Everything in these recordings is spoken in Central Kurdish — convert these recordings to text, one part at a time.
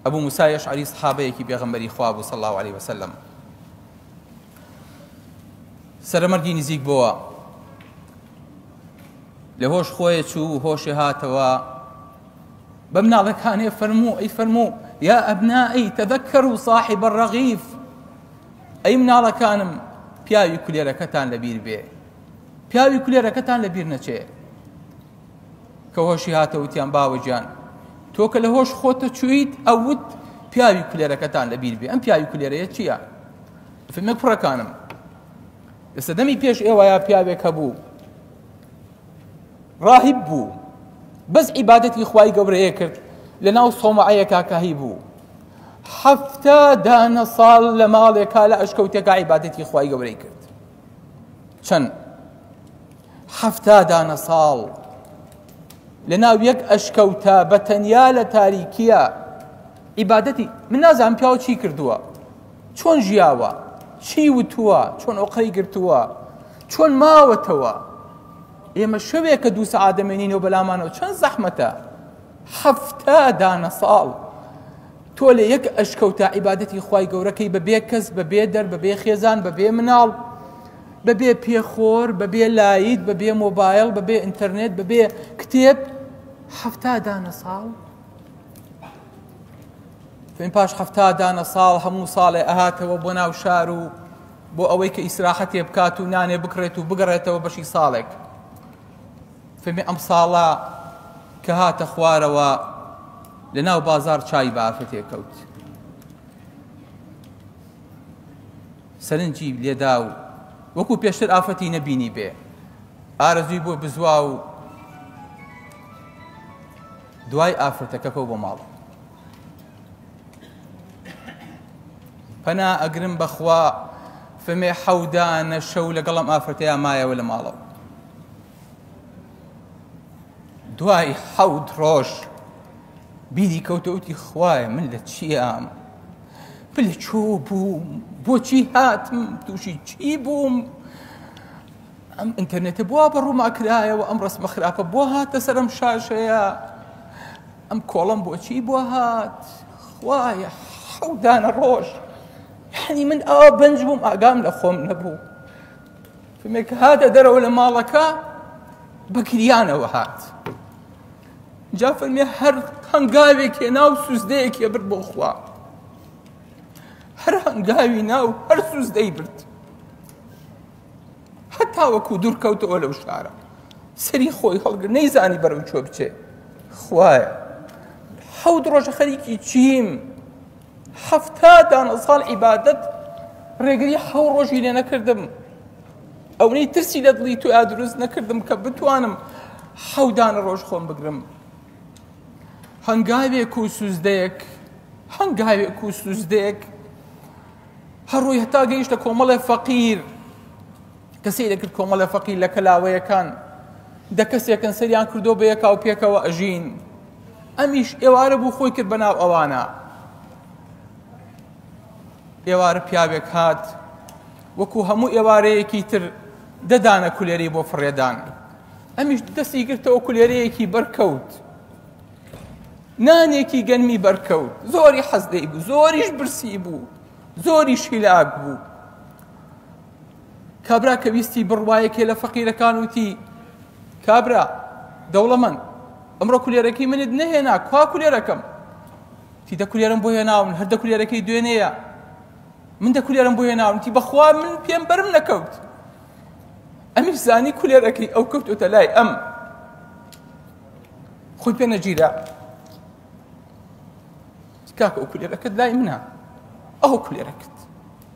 ئەبو موسا یەشعەری سەحابەیەکی پێغەمبەری خوا بوو صلی الله علیه وسلم سەرمەرگی نزیک بووە لە هۆش خۆی چوو هۆشێ هاتەوە بە مناڵەکانێ فەرموو ئەی فەرموو یا ئەبنائی تەدەکەر و صاحب الرغیف ئەی مناڵەکانم پیاوی کولێرەکەتان لەبیر بێ پیاوی کولێرەکەتان لەبیر نەچێ کە هۆشی هاتە وتیان باوە گیان تۆ کە لە هۆش خۆتە چویت ئەوت پیاوی کولێرەکەتان لە بیر بێ ئەم پیاوی کولێرەیە چییە فیلمە کوڕەکانم لە سەدەمی پێش ئێوەیە پیاوێک هەبوو ڕاهیب بوو بەس عیبادەتی خوای گەورەیە کرد لە ناو سۆمەعەیە کاکاهی بوو حەفتا دانە ساڵ لە ماڵێکا لە ئەشکەوتێکا عیبادەتی خوای گەورەی کرد چەند حەفتا دانە ساڵ لە ناو یەک ئەشکەوتە بە تەنیا لە تاریکیە عیبادەتی من نازانم پیاوە چی کردووە چۆن ژیاوە چی وتووە چۆن ئۆقەی گرتووە چۆن ماوەتەوە ئێمە شەوێک کە دوو سەعادەمێنینەوە بەلامانەوە چەند زەحمەتە حەفتا دانە ساڵ تۆ لە یەک ئەشکەوتە عیبادەتی خی گەورەکەی بەبێ کەس بەبێ دەر بەبێ خێزان بەبێ مناڵ بەبێ پێخۆر، بەبێ لایت، بەبێ مۆبایڵ، بەبێ ئینتەرنێت، بەبێ کتێب حەفتا دانە ساڵ؟ فەین پاش حەفتا دانە ساڵ هەموو ساڵێ ئەهاتەوە بۆ ناو شار و بۆ ئەوەی کە ئیسراحەتێ بکات و نانێ بکڕێت و بگەڕێتەوە بەشی ساڵێک فەمی ئەم ساڵە کە هاتە خوارەوە لە ناو بازار چای بافەتێ کەوت سەرنجی لێدا و وەکو پێشتر ئافرەتی نەبینی بێ ئارەزوی بۆ بزوا و دوای ئافرەتەکەکە بۆ ماڵ پەنا ئەگرم بەخوا فمێ حەودانە شەو لەگەڵم ئافرەتەیە مایەوە لە ماڵەوە دوای حەوت ڕۆژ بیری کەوتەوتی خوایە من لە چیام من لە چۆ بووم بۆچی هاتم تووشی چی بووم ئەم ئینتەرنێتە بووە بە ڕووماکرایەوە ئەم ڕسمە خراپە بۆ هاتە سەرم شاشەیە ئەم کۆڵم بۆچی بۆ هات خوایە حەودانە ڕۆژ یعنی من ئاوا بەنج بووم ئاگام لە خۆم نەبوو کەمێک هاتە دەرەوە لە ماڵەکە بە گریانەوە هات جا فەرمی هەر هەنگاوێک هێنا و سوزدەیەک هێبرد بۆ خوا هەر هەنگاوی ناو هەر سوزدەی برد هەتا وەکو دوور کەوتەوە لەو شارە سەری خۆی هەڵگر نەیزانی بەرەو چۆ بچێ خوایە حەوت ڕۆژە خەریکی چیم حەفتا دانە ساڵ عیبادەت ڕێگری حەو ڕۆژی لێ نەکردم ئەونەی ترسی لە دڵی تویا دروست نەکردم کە بتوانم حەودانە ڕۆژ خۆم بگرم هەنگاوێک و سوزدەیەک هەنگاوێک و سوزدەیەک هەڕووی هەتا گەیشتە کۆمەڵێ فەقیر کە سەیرە کرد کۆمەڵە فەقی لە کەلاوەیەکان دە کەسێکن سەریان کردو بە یەکاو پێکەوە ئەژین ئەمیش ئێوارە بوو خۆی کرد بەناو ئەوانە ئێوارە پیاوێک هات وەکو هەموو ئێوارەیەکی تر دەدانە کولێری بۆ فڕێدان ئەمیش دەستی گرتەوە کولێرەیەکی بەرکەوت نانێکی گەنمی بەرکەوت زۆری حەزدەی بوو زۆریش برسی بوو زۆریش هیلاک بوو کابرا کە ویستی بڕوا یەکێ لە فەقیرەکان وتی کابرا دەوڵەمەند ئەمڕۆ کولێرەکەی منت نەهێنا کوا کولێرەکەم تی دە کولێرم بۆ هێناون هەر دە کولێرەکەی دوێنێیە من دە کولێرم بۆ هێناون تی بەخوا من پێم بەرم نەکەوت ئەمیش زانی کولێرەکەی ئەو کەوتۆتە لای ئەم خۆی پێ نەگیرا کاکە ئەو کولێرەکەت لای منە ئەو کولێرەکەت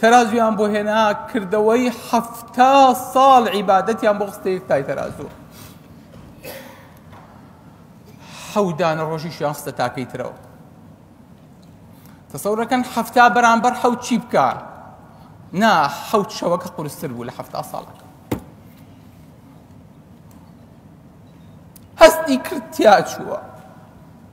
تەرازوویان بۆ هێنا کردەوەی حەفتا ساڵ عیبادەتیان بۆ خستە یەک تای تەرازوو حەودانە ڕۆژیشیان خستە تاکەی ترەوە تەسەورەکەن حەفتا بەرامبەر حەوت چی بکە نا حەوت شەوەکە قورستر بوو لە حەفتا ساڵەکە هەستی کرد تیا چووە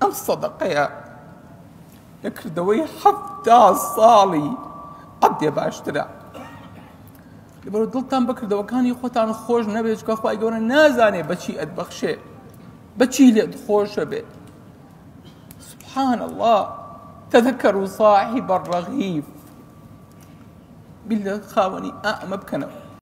ئەم سەدەقەیە لە کردەوەی حەفتا ساڵی عەبدێ باشترە لەبەر دڵتان بەکردەوەکانی خۆتان خۆش نەبێت چکە خخوای گەورە نازانێ بەچی ئەتبەخشێ بەچی لێت خۆشە بێت سبحان الله تذكر صاحب الرغيف بالله خاوني أأمب كنو